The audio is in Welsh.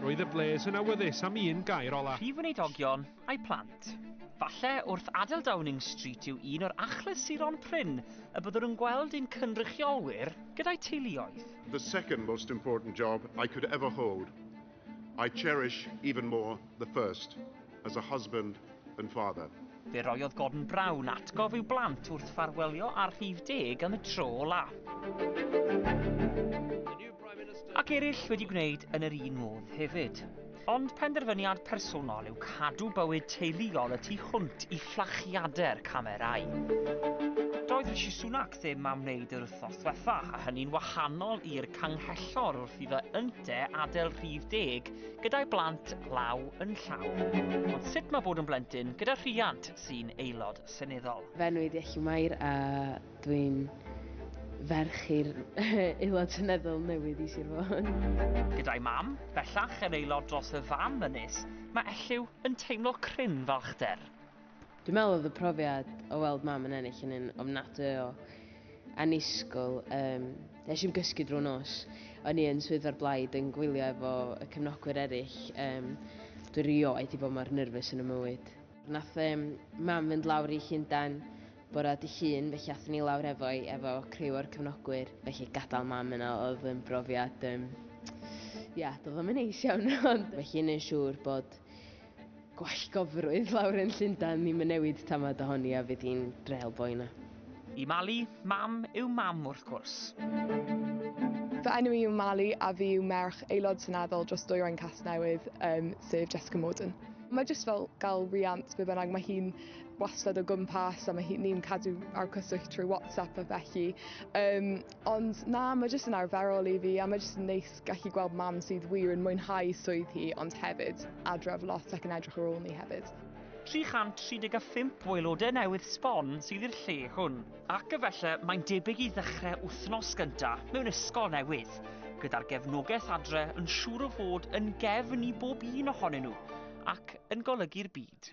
Roedd y bles yn awyddus am un gair ola. Prif Weinidoggion a'i plant. Falle wrth adael Downing Street yw un o'r achlysuron prin y byddwn yn gweld ein cynrychiolwyr gyda'u teuluoedd. The second most important job I could ever hold. I cherish even more the first, as a husband and father. Fe roiodd Gordon Brown atgof i'w blant wrth ffarwelio ar rhif deg am y tro ola. Ac eraill wedi gwneud yn yr un modd hefyd. Ond penderfyniad personol yw cadw bywyd teuluol y tu hwnt i fflachiadau'r camerau. Doedd Rishi Sunak ddim am wneud yr wythnos diwetha, a hynny'n wahanol i'r canghellor wrth iddo ynte adael rhif deg gyda'i blant law yn llaw. Ond sut mae bod yn blentyn gyda rhiant sy'n aelod seneddol? Fe enw i Diechu Mair a dwi'n ferch i'r aelod seneddol newydd i Sir Fôn. Gyda'i mam, bellach yn aelod dros y fam ynys, mae Elliw yn teimlo cryn falchder. Dwi'n meddwl oedd y profiad o weld mam yn ennill yn un ofnadwy o annisgwyl. Um, nes i'n gysgu drwy nos. O'n i yn swyddfa'r blaid yn gwylio efo y cefnogwyr eraill. Um, Dwi'n rioed i bod mor nyrfus yn y mywyd. Nath um, mam fynd lawr i Llundain bora di llun, felly athyn ni lawr efo'i efo criw o'r cefnogwyr. Felly gadael mam yna oedd yn brofiad... Um, ia, doedd o'n mynd neis iawn. Felly yn yn siŵr bod Gwallgofrwydd lawr yn Llundain ddim yn newid tamad ohoni a fydd hi'n drel boi na. Y Mali, mam yw mam wrth gwrs. Fy enw i yw Mali a fi yw merch Aelod Seneddol dros Dwyrain Casnewydd, um, sef Jessica Morden. Mae jyst fel gael riant be bynnag, mae hi'n wastad o gwmpas a mae hi'n ni'n cadw ar cyswllt trwy WhatsApp a felly. Um, Ond na, mae jyst yn arferol i fi a mae jyst yn neis gallu gweld mam sydd wir yn mwynhau swydd hi ond hefyd adref lot ac yn edrych ar ôl ni hefyd. 335 o aelodau newydd sbon sydd i'r lle hwn, ac efallai mae'n debyg i ddechrau wythnos gyntaf mewn ysgol newydd, gyda'r gefnogaeth adre yn siŵr o fod yn gefn i bob un ohonyn nhw ac yn golygu'r byd.